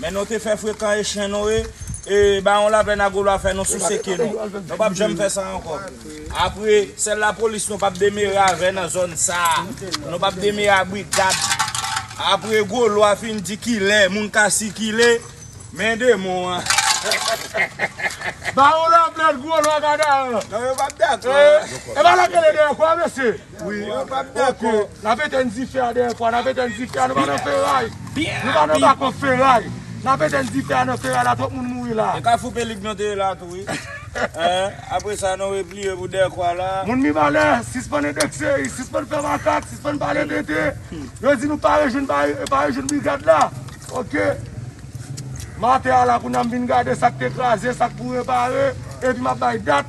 Men nou te fè frekan e chen nou e e bawon laplèn a gwo lwa fè nou souse ke nou. Nou pap janm fè sa ankò. Apre, sèl lapolis nou pap demere avè nan zòn sa a. Nou pap demere a brigad. Apre gwo lwa fin di kilè moun ka sikile, men demon an. Bawon laplèn gwo lwa gada an. Non yo pap dakò. E ba lakelè dèyè kwa mesye. Wi yo pap dakò. Ok nap etenn dife a dèyè fwa nap etenn dife a nou pa nan feray nou pa nan bako feray nap etenn dife a nan feray la twòp moun mouri la. E kafou pelig nou te ye la tou wi hein apre sa nou repliye pou dèkwa la. Moun mibalè sispann endekse yi sispann fè makak sispann pale tenten yo di nou pa rejwenn pa rejwenn brigad la ok maten a la kounya m vin gade sak te kraze sak pou repare epi map bay dat.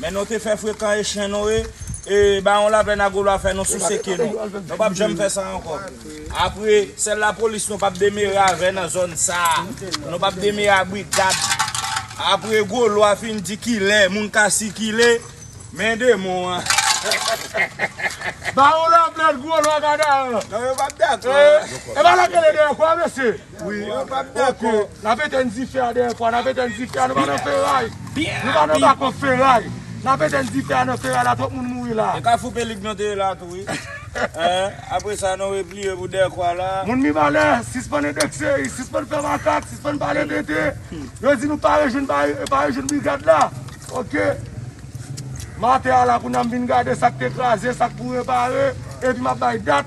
Men nou te fè frekan e chen nou e e bawon laplèn a golwa fè nou souse ke nou. Nou pap janm fè sa ankò. Apre, sèl lapolis nou pap demere avè nan zòn sa a. Nou pap demere a brigad. Apre golwa fin di kilè moun ka sikile, men demon an. Bawon laplèn, golwa, gadaran. Non yo pap dakò. E ba lakelè dèyè kwa mesye? Wi yo pap dakò. Ok nap etenn dife a dèyè kwa nap etenn dife a nou pa nan feray nou pa nan bako feray nap etenn dife a nan feray la twòp moun mouri la. E kafou pelig nou te ye la tou wi apre sa nou repliye pou dèyè kwa la. Moun mibalè sispann endekse sispann fè makak sispann pale tenten yo di nou pa rejwenn pa rejwenn brigad la ok maten a la kounye a m vin gade sak te kraze sak pou repare epi map bay dat